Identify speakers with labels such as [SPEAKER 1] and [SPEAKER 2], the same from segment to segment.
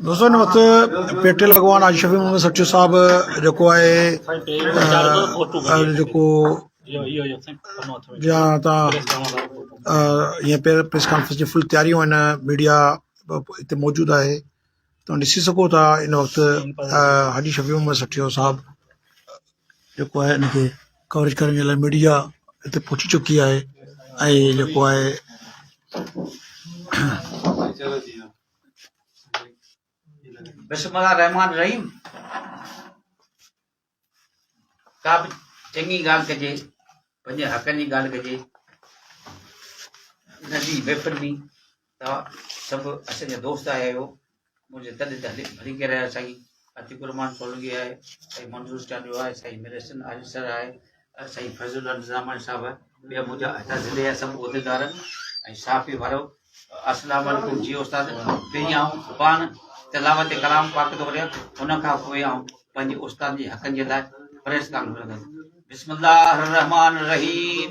[SPEAKER 1] دوستو ان وقت پيٽل اڳواڻ حاجي شفيع محمد سچو صاحب جيڪو آهي جيڪو جا تا يه پير پريس کانفرنس جي فل تياري هو ان ميڊيا اتي موجود آهي تو ڏسي سگهو ٿا ان وقت حاجي شفيع محمد سچو صاحب جيڪو آهي ان کي ڪوريج ڪرڻ جي لاء ميڊيا هتي پهچي چڪي آهي ۽ جيڪو آهي
[SPEAKER 2] بسم الله الرحمن الرحيم ڪا به چڱي ڳالهه ڪجي پنهنجي حقن جي ڳالهه ڪجي ان جي محفل ۾ توهان سڀ اسان جا دوست آهيو. منهنجي تڏي ته هلي ڀلي ڪير آهي سائين عتيق الرحمان سولنگي آهي سائين منظور چانڊيو آهي سائين مير حسن عارف سر آهي سائين فيض الله نظاماڻي صاحب ٻيا منهنجا هتان ضلعي جا سڀ عهديدار ۽ صحافي وارو السلام عليڪم جي استاد پهرين آئون پاڻ تلاوت ڪلام پاڪ ٿو ڪريان ان کان پوء آئون پنهنجي استاد جي حقن جي لاء پريس ڪانفرنس بسم الله الرحمن الرحيم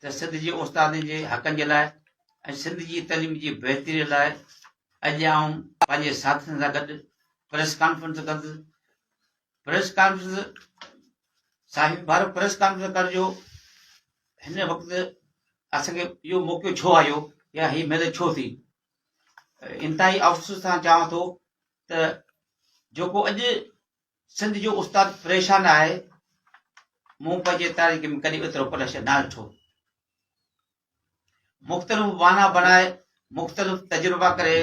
[SPEAKER 2] ته سنڌ جي استادن جي حقن جي لاء ۽ سنڌ جي تعليم جي بهتري لاء اڄ آئون پنهنجي ساٿين سان گڏ پريس ڪانفرنس ڪندس پريس ڪانفرنس صاحب بار پريس ڪانفرنس ڪرڻ جو هن وقت اسان کي اهو موقعو ڇو آيو يا هي مهل ڇو ٿي انتهائي افسوس سان چوان ٿو ته جيڪو اڄ سنڌ جو استاد پريشان آهي مون پنهنجي تاريخ ۾ ڪڏهن ايترو پريشر نه ڏٺو مختلف وانا بنائي مختلف تجربا ڪري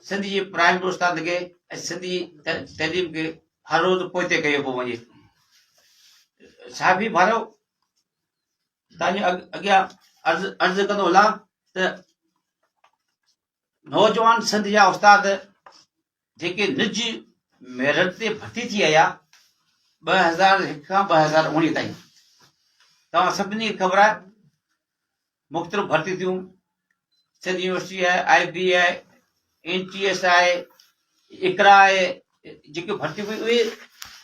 [SPEAKER 2] سنڌ جي پرائمري استاد کي ۽ سنڌ جي تعليم کي هر روز پوئتي ڪيو پيو وڃي صحافي ڀارو تنهنجي اڳيان عرض عرض ڪندو هلا ته نوجوان سنڌ جا استاد جيڪي نج ميرٽ تي ڀرتي ٿي آيا ٻه هزار هڪ کان ٻه هزار اوڻيهه تائين توهان سڀني کي خبر آهي مختلف ڀرتي ٿيون سنڌ يونيورسٽي آهي I B A N T S I Iqra I جيڪي ڀرتي ڪئي اهي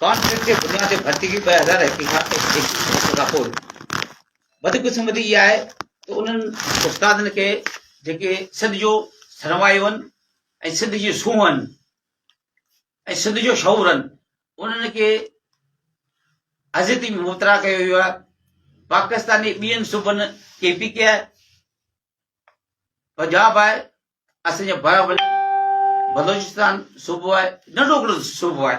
[SPEAKER 2] ڪانٽريڪٽ جي بنياد تي ڀرتي ڪئي ٻه هزار هڪ کان پوء بدقسمتي اها آهي ته انهن استادن کي جيڪي سنڌ جو سرمايو آهن ۽ سنڌ جي سونهن ۽ سنڌ جو شعورن انهن کي اذيتي ۾ مبتلا ڪيو ويو آهي، پاڪستاني ٻين صوبن ڪي پي ڪي آهي، پنجاب آهي، اسان جي بلوچستان صوبو آهي، ننڍو ھڪڙو صوبو آهي،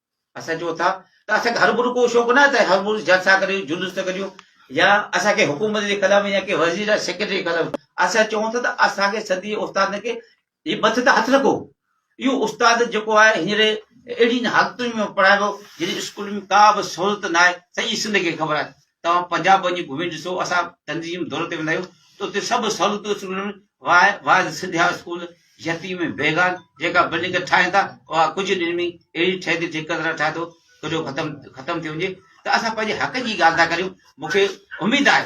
[SPEAKER 2] اسان چئون ٿا ته اسان کي هربھرو ڪو شوق ناهي ته هربھرو جلسا ڪريون، جلوس ٿا ڪڍيون يا اسان کي حڪومت جي خلاف يا ڪنهن وزير يا سيڪريٽري جي خلاف اسان چئون ٿا ته اسان کي سنڌي استادن کي هي مٿي تان هٿ رکو. اهو استاد جيڪو آهي هينئر اهڙين حالتن ۾ پڙهائبو جڏهن اسڪول ۾ ڪا به سھولت ناهي سڄي سنڌ کي خبر آهي توهان پنجاب وڃي گهمي ڏسو، اسان تنظيم دوري تي ويندا آهيون ته اتي سڀ سهولتون اسڪولن ۾ واء واعظ سنڌيا اسڪول، يتيم ۽ بيگان جيڪا بلڊنگ ٺاهين ٿا اها ڪجهه ڏينهن ۾ اهڙي ٺهي ٿي ٺيڪيدران ٺاهي ٿو ته جو ختم ختم ٿي وڃي ته اسان پنهنجي حقن جي ڳالهه ٿا ڪريون مون کي اميد آهي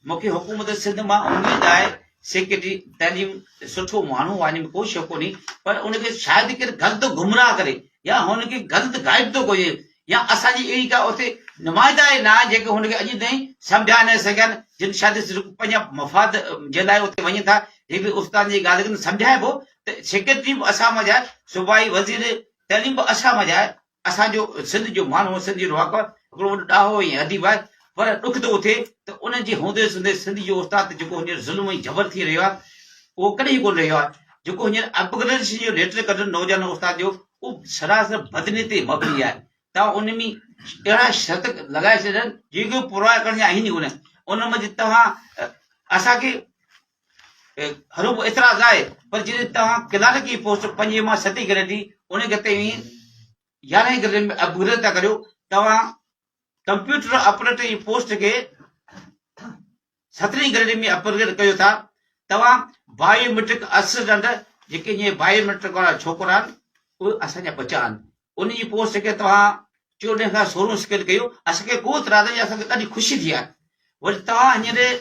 [SPEAKER 2] مون کي حڪومت سنڌ مان اميد آهي سيڪريٽري تعليم سٺو ماڻهو آهي ۾ ڪو شڪ ڪونهي پر ان کي شايد ڪير غلط گمراهه ڪري يا هن کي غلط گائيڊ ٿو ڪجي يا اسان جي اهڙي ڪا اتي نمائندا ئي نه آهن جيڪي هن کي اڄ تائين سمجهائي نه سگهن جن شايد صرف پنهنجا مفاد جي لاء اتي وڃن ٿا جيڪي استاد جي ڳالهه کي سمجهائبو ته سيڪريٽري به اسان مان جائي صوبائي وزير تعليم به اسان مان جائي اسان جو سنڌ جو ماڻهو سنڌ جو رهاڪو هڪڙو وڏو ڏاهو ۽ اديب آهي پر ڏک ٿو اٿي ته ان جي هوندي سوندي سنڌ جو استاد تي جيڪو هينئر ظلم ۽ جبر ٿي رهيو آهي اهو ڪڏهن ڪونه رهيو آهي جيڪو هينئر اپگريڊيشن جو ليٽر ڪڍن نوجوان استاد جو اهو سراسر بدني تي مبني آهي ته ان ۾ اهڙا شرط لڳائي ڇڏن جيڪي پورا ڪرڻ جا آهن ئي ڪونه ان منجهه توهان اسان کي هرو به اعتراض آهي پر جڏهن توهان ڪلارڪ جي پوسٽ پنجين مان ستين گريڊ جي ان کي توهين يارهين گريڊ ۾ اپ گريڊ ٿا ڪريو توهان ڪمپيوٽر آپريٽر جي پوسٽ کي سترين گريڊ ۾ اپ گريڊ ڪيو ٿا توهان بايوميٽرڪ اسسٽنٽ جيڪي جي بايوميٽرڪ وارا ڇوڪرا آهن اهي اسان جا ٻچا آهن ان جي پوسٽ کي توهان چوڏهن کان سورهن سڪيل ڪيو اسانکي ڪو اعتراض يا اسانکي ڏاڍي خوشي ٿي آهي وري توهان هينئر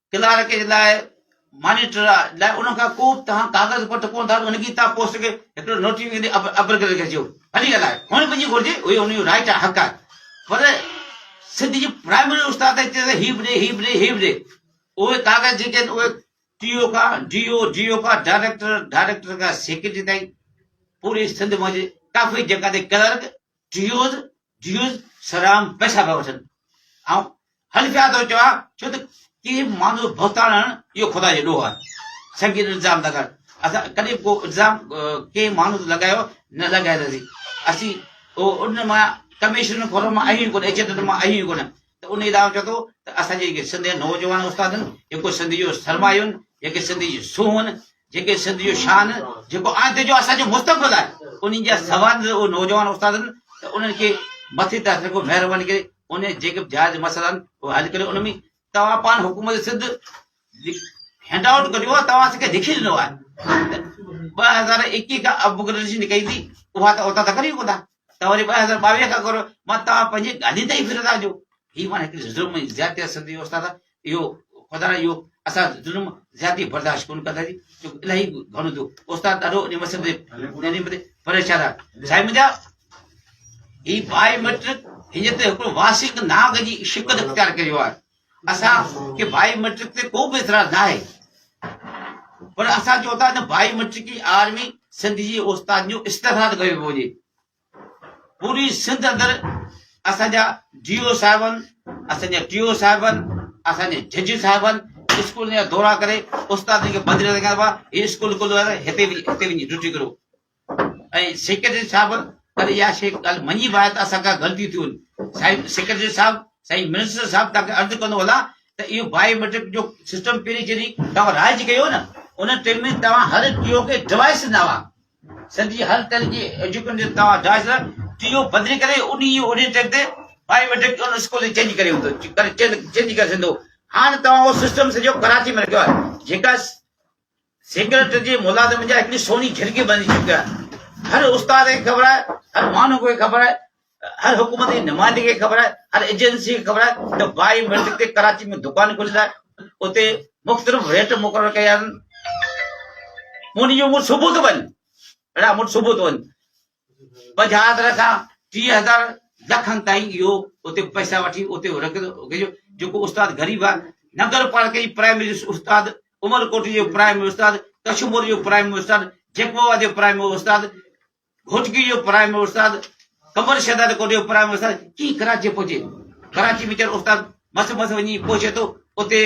[SPEAKER 2] ڪلارڪ جي لاء مانيٽر آ لاء ان کان ڪو تهان ڪاغذ پٽ ڪون ٿا ان کي تهان پوسٽ کي هڪڙو نوٽي ويندي ابر ڪري کجيو هلي ڳالهائي هن پنهنجي گهرجي هي ان جو رائٽ حق آ پر سنڌ جي پرائمري استاد ته چي هي به ڏي هي به ڏي هي به ڏي اهي ڪاغذ جيڪي آهن اهي ٽي او کان ڊي او ڊي او کان ڊائريڪٽر ڊائريڪٽر کان سيڪريٽري تائين پوري سنڌ منهنجي ڪافي جڳهه تي ڪلرڪ جيوز جيوز سرام پئسا پيا وٺن ۽ هل پيا ٿو چوان ڇو ته ڪي ماڻهو بهتان هڻن اهو خدا جو ڏوهه آهي سنگين الزام ٿا ڪن اسان ڪڏهن به ڪو الزام ڪي ماڻهو لڳايو نه لڳايل هوندي اسين ان مان ڪميشن فورم مان آهيون ڪونه ايجنٽن مان آهيون ڪونه انهيء لاء آئون چوان ٿو ته اسان جي جيڪي سنڌ جا نوجوان استاد آهن، جيڪو سنڌ جو سرمايو آهن، جيڪي سنڌ جي سونهن آهن، جيڪي سنڌ جو شان آهن، جيڪو آندي جو اسان جو مستقبل آهي، انهن جا سوال اهي نوجوان استاد آهن ته انهن کي مٿي طرح سان ڪو مهرباني ڪري انهي جيڪي به جائز مسئلا آهن اهي حل ڪريو ان ۾ توهان پاڻ حڪومت سنڌ هينڊ آئوٽ ڪريو آهي توهان اسان کي لکي ڏنو آهي ته ٻه هزار ايڪيهه کان اپ گريڊيشن ڪئي ٿي اها ته اوتان ته ڪريو ڪو نه توهان جي ٻه هزار ٻاويهه کان ڪرو مان توهان پنهنجي ڳالهين تي ئي ڦرندا آهيو هي ماڻهو هڪڙي ظلم ۽ زيادتي آهي سنڌي استاد اهو خدا اهو اسان ظلم زيادتي برداشت ڪون ڪندا جي جو الهي گهڻو ٿيو استاد ڏاڍو ان مسئلي تي ڏاڍي مدي پريشان آهي سائين منجا هي بائي مٽرڪ هن تي هڪڙو واسيڪ ناگ جي شڪل اختيار ڪريو آهي اسان کي بائي ميٽرڪ تي ڪو به اعتراض ناهي پر اسان چون ٿا ته بائي ميٽرڪي آر ۾ سنڌ جي استاد جو استحصال ڪيو پيو وڃي پوري سنڌ اندر اسان جا ڊي او صاحبن اسان جا ٽي او صاحبن اسان جا جج صاحبن اسڪول جا دورا ڪري استاد کي بدلي رکيا هئا هي اسڪول کليو آهي هتي هتي وڃي ڊيوٽي ڪريو ۽ سيڪريٽري صاحب پر اها شيء ڳالهه مڃي به آهي ته اسان کان غلطي ٿي وڃي سائين سيڪريٽري صاحب سائين منسٽر صاحب توهان کي عرض ڪندو هلان ته اهو بائي ميٽرڪ جو سسٽم پهرين جڏهن توهان رائج ڪيو نه ان ٽيم ۾ توهان هر ٽيو کي ڊوائس ڏنا هئا سنڌ جي هر طرح جي ايجوڪيشن جي توهان ڊوائس ٽيو بدلي ڪري ان جي اورين ٽيم تي بائي ميٽرڪ ان اسڪول جي چينج ڪري هوندو چينج ڪري سگهندو هاڻ توهان اهو سسٽم سڄو ڪراچي ۾ رکيو آهي جيڪا سيڪريٽريٽ جي ملازمن جا هڪڙي سوني جهرڪي بڻجي چڪي آهي. هر استاد کي خبر آهي، هر ماڻهو کي خبر آهي، هر حڪومت جي نمائندي کي خبر آهي، هر ايجنسي کي خبر آهي ته بائي ميٽرڪ تي ڪراچي ۾ دڪان کليل آهي، اتي مختلف ريٽ مقرر ڪيا آهن. مون ڏينهن جو مون صبح ٿو وڃ، اڙا مون صبح ٿو وڃ. پنجاهه کان ٽيهه هزار لکن تائين اهو اتي پئسا وٺي اتي رکيو جيڪو استاد غريب آهي نگر پالڪي جي پرائمري استاد عمرڪوٽ جو پرائمري استاد ڪشمور جو پرائمري استاد جيڪبوا جو پرائمري استاد گهوٽڪي جو پرائمري استاد قمر شهزاد ڪوٽ جو پرائمري استاد ڪي ڪراچي پهچي ڪراچي ۾ چر استاد مس مس وڃي پهچي ٿو اتي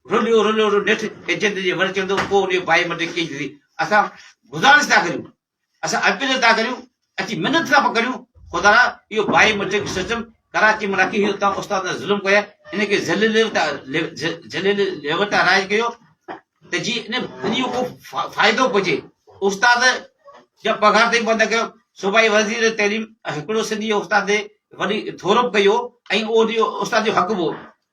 [SPEAKER 2] رليو رليو رليو نيٺ ايجنٽ جي ور چڙندو پوء ان جو بائيوميٽرڪ ڪيئن ٿيندي اسان گزارش ٿا ڪريون اسان اپيل ٿا ڪريون اچي منٿ ٿا پڪڙيون خدا را اهو بائي مٽرڪ سسٽم ڪراچي ۾ رکي هي اتان استاد ته ظلم ڪيا ان کي ذليل ليوتا ذليل ليوتا رائج ڪيو ته جي ان ان جو ڪو فائدو پهچي استاد جا پگهار تائين بند ڪيو صوبائي وزير تعليم هڪڙو سنڌي استاد وڏي ٿورپ ڪيو ۽ اهو استاد جو حق هو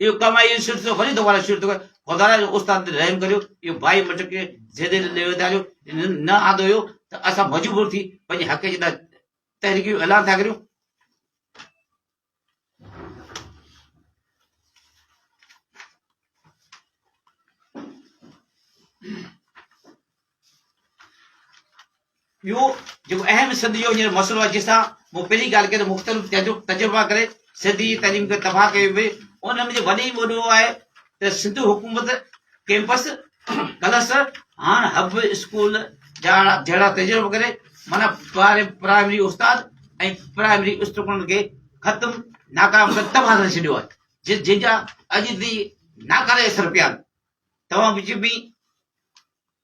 [SPEAKER 2] اهو ڪم آهي، اهو شرط ٿيو، وري دوباره شرط ٿيو، خدا جو استاد تي رحم ڪريو، اهو ڀائي مٽ کي زيدي ڏي ويندا جو نه آندو هيو ته اسان مجبور ٿي پنهنجي حق جي لاء تحريڪ جو اعلان ٿا ڪريون. ٻيو جيڪو اهم سنڌ جو هينئر مسئلو آهي جس تان مون پهرين ڳالهه ڪئي ته مختلف تجربا ڪري سنڌ جي تعليم کي تباهه ڪيو ويو ان ۾ جو وڏي وڏو آهي ته سنڌ حڪومت ڪيمپس ڪلس هاڻ هب اسڪول جهڙا جهڙا تجربا ڪري مانا پرائمري استاد ۽ پرائمري اسٽوڊنٽ کي ختم ناڪام ڪري تباهه ڪري ڇڏيو آهي جن جا اڄ تي ناڪاري اثر پيا آهن توهان وچ ۾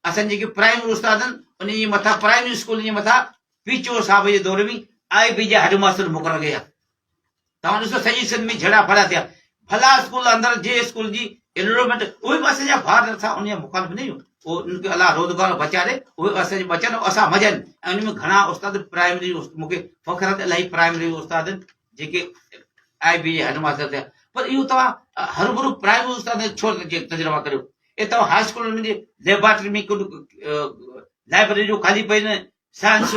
[SPEAKER 2] اسان جيڪي پرائمري استاد آهن انهن جي مٿان پرائمري اسڪولن جي مٿان پي چور صاحب جي دور ۾ آء بي جا هيڊ ماستر مقرر ڪيا توهان ڏسو سڄي سنڌ ۾ جھڙا ڦڙا ٿيا ڀلا اسڪول اندر جي اسڪول جي انورومينٽ اهي به اسان جا ڀار نٿا ان جا مخالف نه آهيون او ان کي الله روزگار بچاري اهي اسان جي بچن اسان مزن ان ۾ گھڻا استاد پرائمري مونکي فخر ته الاهي پرائمري استاد جيڪي آء بي جي هيڊ ماستر ٿيا پر اهو توهان هر برو پرائمري استاد ڇو تجربا ڪريو اهي توهان هاء اسڪول ۾ جي ليبارٽري ۾ ڪن لائبرري جو خالي پئي نه سائنس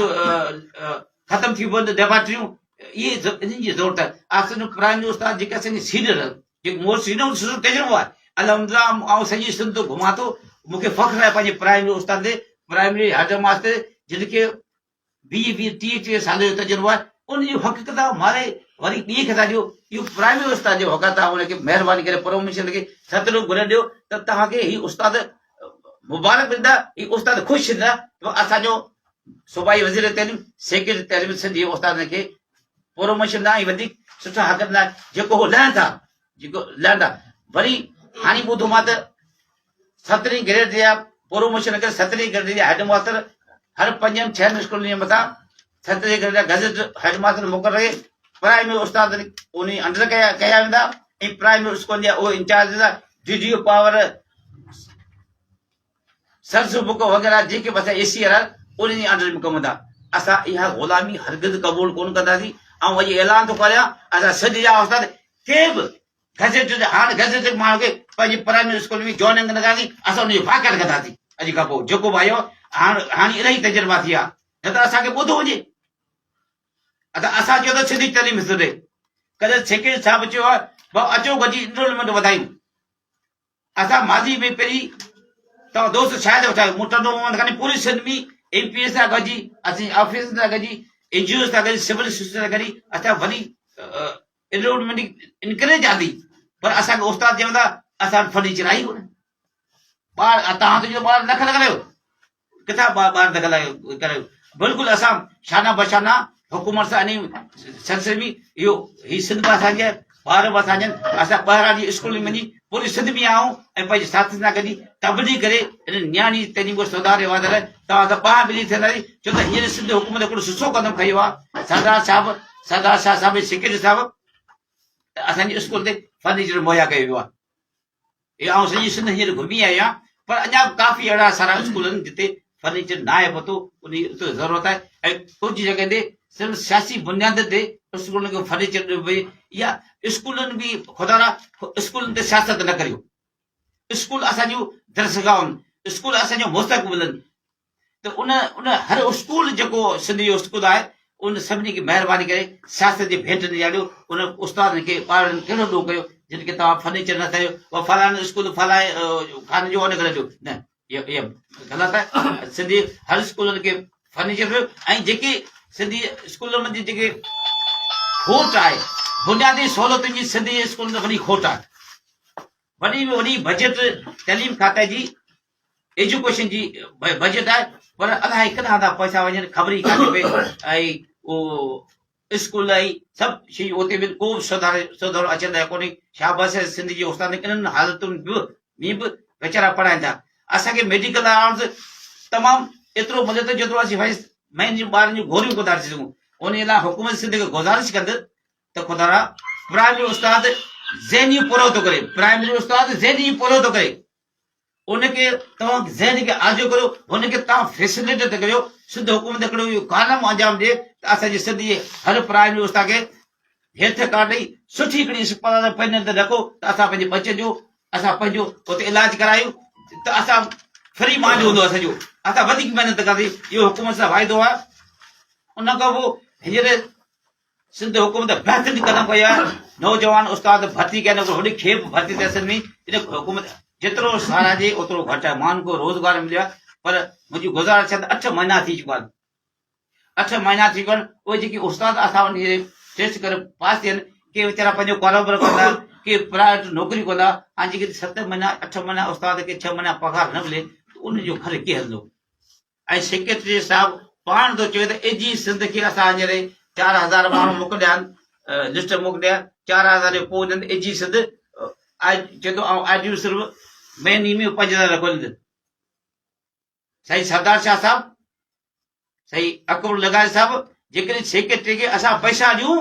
[SPEAKER 2] ختم ٿي پوندو ليبارٽريون اهي انهن جي ضرورت آهي آسن قرآن جو استاد جيڪا سنگي سينئر جيڪو مور سينئر سسو ڪجرو آهي الحمدلله آئون سڄي سنڌ گهمان ٿو مونکي فخر آهي پنهنجي پرائمري استاد تي پرائمري هيڊ ماستر جن کي ويهه ويهه ٽيهه ٽيهه سالن جو تجربو آهي ان جون حق ڪتاب ماري وري ٻئي کي ٿا ڏيو اهو پرائمري استاد جو حق آهي تان ان کي مهرباني ڪري پروميشن کي ستلو گهري ڏيو ته توهان کي هي استاد مبارڪ ڏيندا هي استاد خوش ٿيندا جو اسان جو صوبائي وزير تعليم سيڪريٽري تعليم سنڌ جي استادن کي پروموشن ڏانهن ۽ وڌيڪ سٺا حق ڏنا جيڪو هو لهن ٿا جيڪو لهن ٿا وري هاڻي ٻڌو مان ته سترهين گريڊ جي پروموشن ڪري سترهين گريڊ جي هيڊ ماستر هر پنجن ڇهن اسڪولن جي مٿان سترهين گريڊ جا گزٽ هيڊ ماستر مقرر ڪري پرائمري استاد انهي انڊر ڪيا ڪيا ويندا ۽ پرائمري اسڪولن جا اهي انچارج هوندا ڊي ڊي او پاور سرس بڪو وغيرا جيڪي بس اي سي آر انهن جي انڊر ۾ ڪم هوندا اسان اها غلامي هرگز قبول ڪون ڪنداسين آئون اڄ اعلان ٿو ڪريان اسان سج جا استاد ڪي به گزيٽيڊ هاڻ گزيٽيڊ ماڻهو کي پنهنجي پرائمري اسڪول ۾ جوائننگ ڪنداسين اسان ان جي واڪاٽ ڪنداسين اڄ کان پوء جيڪو به آيو هاڻ هاڻي الائي تجربا ٿي ويا نه ته اسان کي ٻڌو وڃي ادا اسان چيو ته سنڌي تعليم حصو ڏي ڪڏهن سيڪريٽري صاحب چيو بابا اچو گڏجي انرولمنٽ وڌايون اسان ماضي ۾ پهرين توهان دوست شاهد وٺايو مون ٽنڊو محمد خاني پوري سنڌ ۾ ايم پي ايز سان گڏجي اسين آفيسرن سان گڏجي اين جي اوز سان گڏجي سول سسٽم سان گڏجي اسان وڏي انرومنٽ انڪريج آندي پر اسان کي استاد چوندا اسان فرنيچر آهي ڪونه ٻار توهان ته جو ٻار لک لک ليو ڪٿان ٻار دخل ڪريو بلڪل اسان شانه بشانه حڪومت سان انهي سلسلي ۾ اهو هي سنڌ به اسان جي ٻار به اسان جي اسان ٻاهران جي اسڪول ۾ وڃي پوري سنڌ ۾ آئون ۽ پنهنجي ساٿين سان گڏجي تبليغ ڪري ان نياڻي تعليم کي سڌار رهيو آهي توهان سان ٻانهن ملي ٿينداسي ڇو ته هينئر سنڌ حڪومت هڪڙو سسو قدم کيو آهي سردار صاحب سردار شاهه صاحب سيڪريٽري صاحب اسان جي اسڪول تي فرنيچر مهيا ڪيو ويو آهي اهي آئون سڄي سنڌ هينئر گهمي آيو آهيان پر اڃا به ڪافي اهڙا سارا اسڪول آهن جتي فرنيچر نه آهي پهتو انهي اتي ضرورت آهي ۽ ڪجهه جڳهن تي صرف سياسي بنيادن تي اسڪولن کي فرنيچر ڏنو پئي يا اسڪولن به خدارا اسڪولن تي سياست نه ڪريو اسڪول اسان جون درسگاهون اسڪول اسان جو مستقبل آهن ته ان ان هر اسڪول جيڪو سنڌ جو اسڪول آهي ان سڀني کي مهرباني ڪري سياست جي ڀيٽ ڏياريو ان استادن کي ٻارڙن کي ڏوهه ڪيو جن کي توهان فرنيچر نه ڪيو و فلان اسڪول فلان خان جو ان ڪري ڏيو نه اهي غلط آهي سنڌي هر اسڪولن کي فرنيچر ڏيو ۽ جيڪي سنڌي اسڪولن ۾ جيڪي کوٽ آهي بنيادي سهولتن جي سنڌي اسڪولن ۾ وڏي کوٽ آهي وڏي ۾ وڏي بجيٽ تعليم کاتي جي ايجوڪيشن جي بجيٽ آهي پر الائي ڪٿان ٿا پئسا وڃن خبر ئي ڪانهي پئي ۽ اسڪول ۽ سڀ شيون اتي به ڪو به سڌار سڌارو اچي رهيو ڪونهي شاباس آهي سنڌ جي استادن انهن حالتن به ۾ به ويچارا پڙهائين ٿا اسان کي ميڊيڪل آڻ ته تمام ايترو ملي ٿو جيترو اسين ويس مين جي ٻارن جون گوريون ڪونه ٿا ڏسي سگهون ان لاء حڪومت سنڌ کي گذارش ڪندس ته خدا را پرائمري استاد ذهني پورو ٿو ڪري پرائمري استاد ذهني پورو ٿو ڪري ان کي توهان ذهن کي آجو ڪريو، ان کي توهان فيسليٽيٽ ڪريو، سنڌ حڪومت هڪڙو اهو ڪالم انجام ڏي ته اسان جي سنڌ جي هر پرائمري استاد کي هيلٿ ڪارڊ ڏئي سٺي هڪڙي اسپتال پنهنجي اندر رکو ته اسان پنهنجي ٻچن جو اسان پنهنجو اتي علاج ڪرايون ته اسان فري مائنڊ هوندو اسان جو اسان وڌيڪ محنت ڪنداسين اهو حڪومت سان واعدو آهي ان کان پوء هينئر سنڌ حڪومت بهترين قدم کنيو آهي نوجوان استاد ڀرتي ڪيا نڪو هوڏي کي به ڀرتي تحصيل ۾ ان حڪومت جيترو ساراهجي اوترو گهٽ آهي مان کو روزگار مليو آهي پر منهنجي گزارش ڇا ته اٺ مهينا ٿي چڪا آهن اٺ مهينا ٿي چڪا آهن اهي جيڪي استاد اٿا وڃي ٽيسٽ ڪري پاس ٿيا آهن ڪي ويچارا پنهنجو ڪاروبار ڪندا ڪي پرائيويٽ نوڪري ڪندا هاڻي جيڪي ست مهينا اٺ مهينا استاد کي ڇهه مهينا پگهار نه ملي ته ان جو گهر ڪيئن هلندو ۽ سيڪريٽري صاحب پاڻ ٿو چوي ته اجهي سنڌ کي اسان هينئر چار هزار ماڻهو موڪليا آهن لسٽ موڪليا چار هزار جو پوء انهن اجهي سنڌ آء چوي ٿو آئون آجيون صرف مهيني ۾ پنج هزار رکو ڏيندس سائين سردار شاهه صاحب سائين اڪبر لغاري صاحب جيڪڏهن سيڪريٽري کي اسان پئسا ڏيون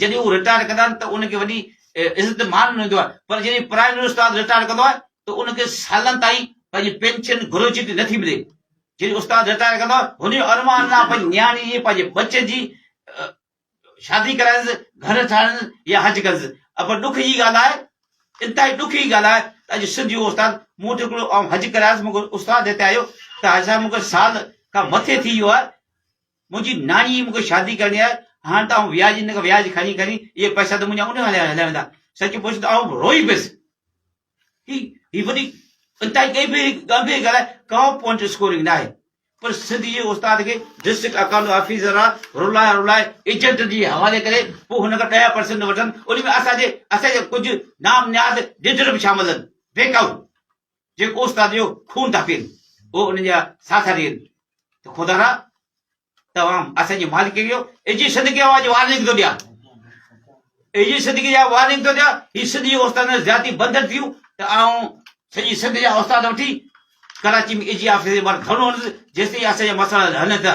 [SPEAKER 2] جڏهن هو رٽائرڊ ڪندا آهن ته ان کي وڏي عزت مان ڏنو ويندو آهي پر جڏهن پرائمري استاد رٽائرڊ ڪندو آهي ته ان کي سالن تائين پنهنجي پينشن گروجيٽي نه ٿي ملي. جڏهن استاد رٽائرڊ ڪندو آهي هن جو ارمان آهي پنهنجي نياڻي جي پنهنجي ٻچن جي شادي ڪرائينس گهر ٺاهرائينس يا حج ڪنس پر ڏک جي ڳالهه آهي انتهائي ڏک جي ڳالهه آهي ته اڄ سنڌ جو استاد مون وٽ هڪڙو آئون حج ڪرايس مون کي استاد هتي آيو ته حاجي صاحب مون کي سال کان مٿي ٿي ويو آهي منهنجي ناني ئي مون کي شادي ڪرڻي آهي، هاڻ ته آئون وياج ان کان وياج کڻي کڻي اهي پئسا ته منهنجا ان کان هليا ويندا. سچ پڇ ته آئون روئي پيس. هي هي وڏي انتهائي ڳنڀير ڳنڀير ڳالهه آهي، ڪا پوائنٽ اسڪورنگ ناهي. پر سنڌ جي استاد کي ڊسٽرڪٽ اڪائونٽ آفيسر را رلائي رلائي ايجنٽن جي حوالي ڪري پوء هن کان ڏهه پرسنٽ وٺن، ان ۾ اسان جي اسان جا ڪجهه نام نهاد ڊيٽر به شامل آهن. بيڪائو. جيڪو استاد جو خون ٿا پين او انهن جا ساٿا ڏين ته خدا را توهان اسان جي مالڪ ڪيو ايجي صدقي آواز جو وارننگ ٿو ڏيان ايجي صدقي جا وارننگ ٿو ڏيان هي سنڌ جي استاد ۾ زيادتي بندر ٿيون ته آئون سڄي سنڌ جا استاد وٺي ڪراچي ۾ ايجي آفيس جي ٻاهر ڌرڻو هڻندس جيسين اسان جا مسئلا هلن ٿا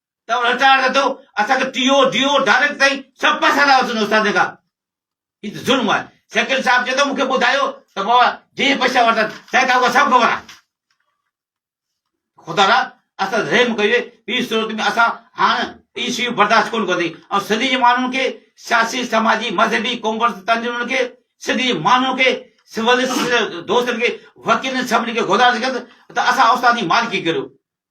[SPEAKER 2] ته ان چارج اٿو اسان کي T O D O direct تائين سڀ پئسا لاء وسندو استاد جيڪا هي ته ظلم آهي سيڪريٽري صاحب چي ٿو مون کي ٻڌايو ته بابا جي پئسا ورتن سائين تان کان سڀ خبر آهي خدا را اسان رحم ڪيو ٻي صورت ۾ اسان هاڻ هي شيون برداشت ڪون ڪندي ۽ سنڌي جي ماڻهن کي سياسي سماجي مذهبي ڪامرس تنظيمن کي سنڌي جي ماڻهن کي سول دوستن کي وڪيلن سڀني کي گذارش ڪندس ته اسان استاد جي مالڪي ڪريو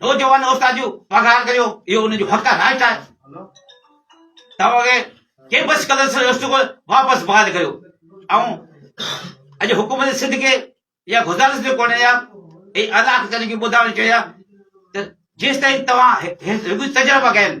[SPEAKER 2] نوجوان استاد جو پگهار ڪريو اهو ان جو حق آهي رائٽ آهي توهان کي ڪي بس قدر سان رستو ڪو واپس بحال ڪريو ۽ اڄ حڪومت سنڌ کي يا گزارش جو ڪونه يا اي علاقه تن کي ٻڌايو چيا ته جيستائين توهان هڪ تجربه ڪين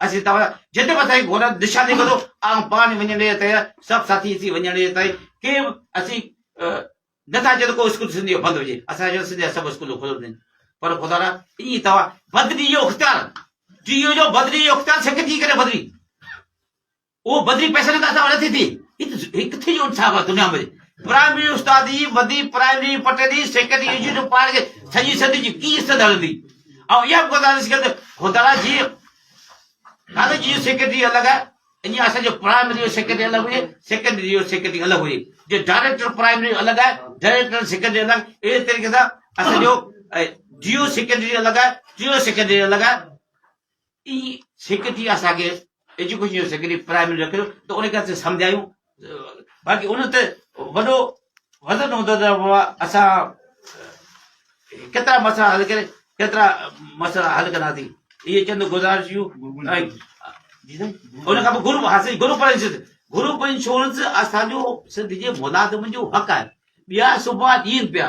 [SPEAKER 2] اسين توهان جا جد وڌائي گهورن نشاني ڪندو آئون پاڻ وڃڻي جي تيار سڀ ساٿي اسين وڃڻي جي تائين ڪي به اسين نه ٿا چئون ڪو اسڪول سنڌ جو بند هجي اسان چئون سنڌ جا سڀ اسڪول کليل هجن پر خدا را ايئن توهان بدلي جو اختيار جيو جو بدلي جو اختيار سکجي ڪري بدلي اهو بدلي پئسن لاء ته نه ٿي ٿي. هي ڪٿي جو انصاف آهي دنيا ۾. پرائمري استاد جي ودي پرائمري پٽندي سيڪنڊري انسٽيٽيوٽ پاڙ کي سڄي سنڌ جي ڪي عزت هلندي. آئون اها به گذارش ڪيم ته خدالا جي ڪاليج جي سيڪريٽري الڳ آهي ائين اسان جو پرائمري جو سيڪريٽري الڳ هجي سيڪنڊري جو سيڪريٽري الڳ هجي جي ڊائريڪٽر پرائمري جو الڳ آهي ڊائريڪٽر سيڪريٽري الڳ اهڙي طريقي سان اسان جو جيو سيڪريٽري الڳ آهي جيو سيڪريٽري الڳ آهي ٽي سک ٿي اسان کي ايجوڪيشن جو سيڪريٽري پرائمري رکيو ته ان کي اسين سمجهايون باقي ان تي وڏو وزن هوندو ته اسان ڪيترا مسئلا حل ڪري ڪيترا مسئلا حل ڪنداسين اهي چند گذارشيون ان کان پوء گروپ حاصل گروپ انشورنس گروپ انشورنس اسان جو سنڌ جي ملازمن جو حق آهي ٻيا صبح ڏين پيا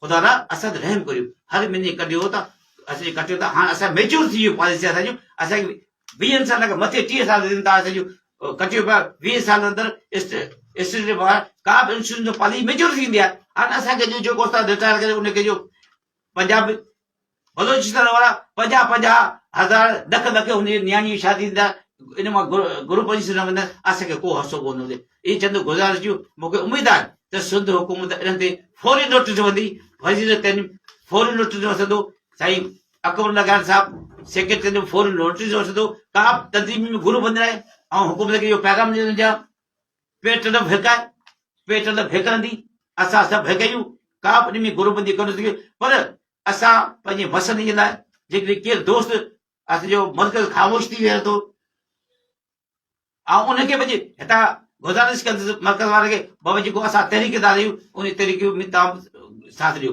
[SPEAKER 2] خدا را اسان تي رحم ڪريو هر مھيني ڪڍيو ته اسان جي ڪٽيو ته هاڻ اسان ميچور ٿي ويو پاليسي اسان جون اسان کي ويهن سال کان مٿي ٽيهه سال ٿين ٿا اسان جون ڪٽيو پيا ويهه سال اندر اسٽيٽ ٻاهر ڪا به انشورنس پاليسي ميچور ٿيندي آهي هاڻ اسان کي جو جيڪو استاد رٽائر ڪري ان کي جو پنجاب بلوچستان وارا پنجاهه پنجاهه هزار ڏک ڏکي هن جي نياڻي جي شادي ٿيندا ان مان گروپ جي سر ويندا اسان کي ڪو حصو ڪونه ملي اي چند گزارش جو مونکي اميد آهي ته سنڌ حڪومت انهن تي فوري نوٽس وندي وزير تعليم فوري نوٽس وسندو سائين اڪبر لگان صاحب سيڪريٽري جو فوري نوٽس وسندو ڪا تنظيم ۾ گروپ وندي آهي ۽ حڪومت کي اهو پيغام ڏيندو جا پيٽ نه ڦيڪاء، پيٽ نه ڦيڪندي، اسان سڀ هڪ آهيون، ڪا به ڏمي گروپ بندي ڪونه ٿي سگهي، پر اسان پنهنجي مسئلن جي لاء جيڪڏهن ڪير دوست اسان جو مرڪز خاموش ٿي ويهي ٿو، آئون ان کي پنهنجي هتان گذارش ڪندس مرڪز وارن کي بابا جيڪو اسان تحريڪدار آهيون ان تحريڪ ۾ توهان ساٿ ڏيو،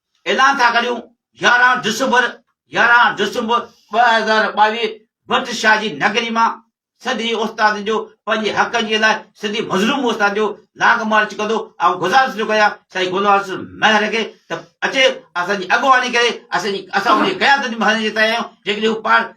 [SPEAKER 2] اعلان ٿا ڪريون يارهن ڊسمبر، يارهن ڊسمبر ٻه هزار ٻاويهه، ڀٽ شاهه جي نگري مان سڌي استاد جو پنهنجي حقن جي لاء سڌي مظلوم استاد جو لاگ مارچ ڪندو آئون گذارش ٿو ڪريان سائين گلوار حسن مهر کي ته اچي اسان جي اڳواڻي ڪري اسان جي اسان ان جي قيادت ۾ هلڻ جي تيار آهيون جيڪڏهن هو پاڻ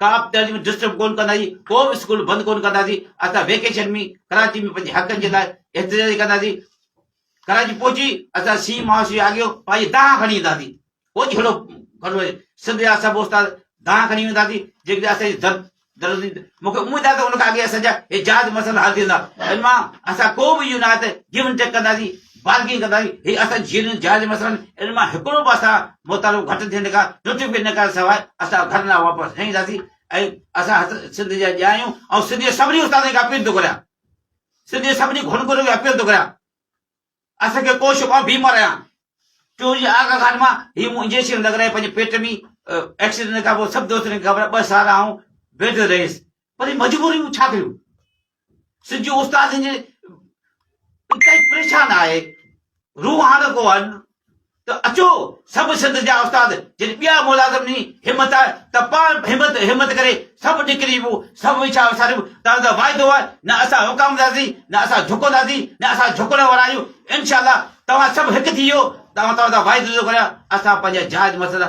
[SPEAKER 2] ڪا به تعليم ڊسٽرب ڪونه ڪنداسين، ڪو به اسڪول بند ڪونه ڪنداسين، اسان ويڪيشن ۾ ڪراچي ۾ پنهنجي حقن جي لاء احتجاج ڪنداسين، ڪراچي پهچي اسان سي مهاشيه آگيو پنهنجي دانهن کڻي اينداسين، ڪو جهيڙو ڪونه ڪنداسين، سنڌ جا سڀ استاد دانهن کڻي وينداسين، جيڪڏهن اسان جي ضرب درزي مون کي اميد آهي ته ان کان اڳي اسان جا احجاج مسئلا حل ٿي ويندا، ان مان اسان ڪو به اهو نه آهي ته گيو اينڊ ٽيڪ ڪنداسين، بازگين ڪندا آهيون هي اسان جي جيئرن جائز مسئلن ان مان هڪڙو به اسان مطالبو گهٽ ٿيڻ کان ٽٽي پئي نه ڪرڻ سواء اسان ڌرنا واپس نه اينداسين ۽ اسان هٿ سنڌ جا ڄا آهيون ۽ سنڌ جي سڀني استادن کي اپيل ٿو ڪريان سنڌ جي سڀني گهڻ گهر کي اپيل ٿو ڪريان اسان کي ڪو شڪ آهي بيمار آهيان ٽيون جي آگا گھاٽ مان هي مون انجيڪشن لڳرائي پنهنجي پيٽ ۾ ايڪسيڊنٽ کان پوء سڀ دوستن کي خبر ٻه سال آئون بيد رهيس پر مجبوري مون ڇا ڪيون سج استاد جي انتهائي پريشان آهي روح هاڻ ڪو هن ته اچو سڀ سنڌ جا استاد جن ٻيا ملازم ني همت آهي ته پاڻ همت همت ڪري سڀ نڪري وو سڀ ويچا وساريو تان ته واعدو آهي نه اسان وڪامنداسين نه اسان جهڪنداسين نه اسان جهڪڻ وارا آهيون انشاء الله توهان سڀ هڪ ٿي ويو توهان توهان ته واعدو ٿو ڪريان اسان پنهنجا جائز مسئلا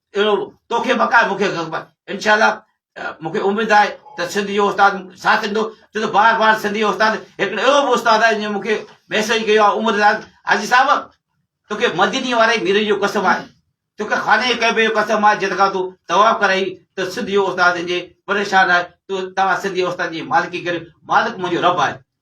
[SPEAKER 2] اهڙو توکي بقا مون کي خبر انشاء الله مون کي اميد آهي ته سنڌ جو استاد ساٿ ڏيندو ڇو ته بار بار سنڌ جو استاد هڪڙو اهڙو به استاد آهي جنهن مون کي ميسج ڪيو آهي عمر داد حاجي صاحب توکي مديني واري مير جو قسم آهي توکي خانه ڪعبه جو قسم آهي جتکان تون طواف ڪرائي ته سنڌ جو استاد جي پريشان آهي تو توهان سنڌ جو استاد جي مالڪي ڪريو مالڪ منهنجو رب آهي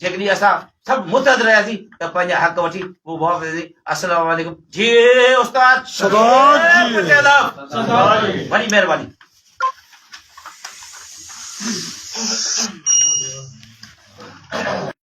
[SPEAKER 2] جيڪڏهن اسان سڀ متحد رهياسين ته پنهنجا حق وٺي هو واپس ايندي السلام عليڪم جي استاد وڏي مهرباني